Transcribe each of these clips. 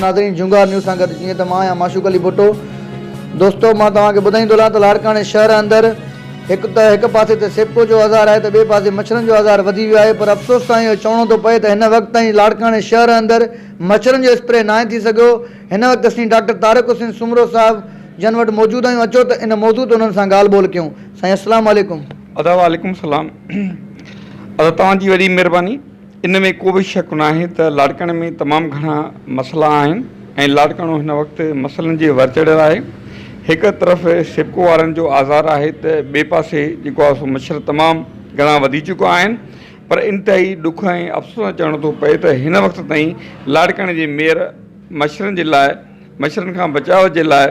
ناظرين جهونگار نيوز سان گڏ جيئن ته مان آهيان معشوق علي ڀٽو دوستو مان توهان کي ٻڌائيندو هلان ته لاڙڪاڻي شهر اندر هڪ ته هڪ پاسي ته سيپڪو جو آزار آهي ته ٻئي پاسي مڇرن جو آزار وڌي ويو آهي پر افسوس سان اهو چوڻو ٿو پئي ته هن وقت تائين لاڙڪاڻي شهر اندر مڇرن جو اسپري ناهي ٿي سگهيو هن وقت اسين ڊاڪٽر طارق حسين سومرو صاحب جن وٽ موجود آهيون اچو ته ان موضوع تي انهن سان ڳالهه ٻولهه ڪيون سائين السلام عليڪم. ادا وعليڪم السلام ادا توهان جي وڏي مهرباني ان ۾ ڪو به شڪ ناهي ته لاڙڪاڻي ۾ تمام گهڻا مسئلا آهن ۽ لاڙڪاڻو هن وقت مسئلن جي ور چڙهيل آهي هڪ طرف سپڪو وارن جو آزار آهي ته ٻئي پاسي جيڪو آهي سو مڇر تمام گهڻا وڌي چڪا آهن پر انتهائي ڏک ۽ افسوس سان چوڻو ٿو پئي ته هن وقت تائين لاڙڪاڻي جي ميئر مڇرن جي لاء مڇرن کان بچاء جي لاء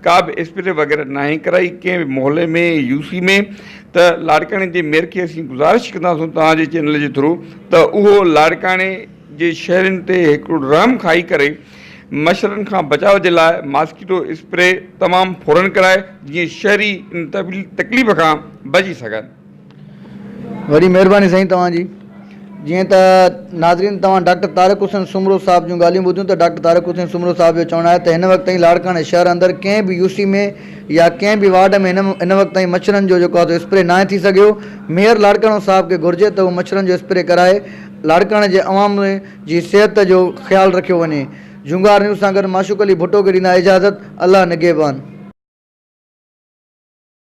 ڪا به اسپري وغيره ناهي ڪرائي ڪنهن به محلي ۾ يو سي ۾ ته لاڙڪاڻي جي ميئر کي اسين گذارش ڪنداسون توهان جي چينل جي ٿرو ته اهو لاڙڪاڻي جي شهرين تي هڪڙو رحم کائي ڪري مڇرن کان بچاء جي لاء ماسڪيٽو اسپري تمام فورن ڪرائي جيئن شهري ان تڪليف کان بچي سگهن. وڏي مهرباني سائين توهان جي. جيئن ته ناظرين توهان ڊاڪٽر طارق حسين سومرو صاحب جون ڳالهيون ٻڌيون ته ڊاڪٽر طارق حسين سومرو صاحب جو چوڻ آهي ته هن وقت تائين لاڙڪاڻي شهر اندر ڪنهن به يو سي ۾ يا ڪنهن به وارڊ ۾ هن وقت تائين مڇرن جو جيڪو آهي سو اسپري ناهي ٿي سگهيو ميئر لاڙڪاڻو صاحب کي گهرجي ته هو مڇرن جو اسپري ڪرائي لاڙڪاڻي جي عوام جي صحت جو خيال رکيو وڃي جهونگار نيوز سان گڏ معشوق علي ڀٽو کي ڏيندا اجازت الله نگهبان.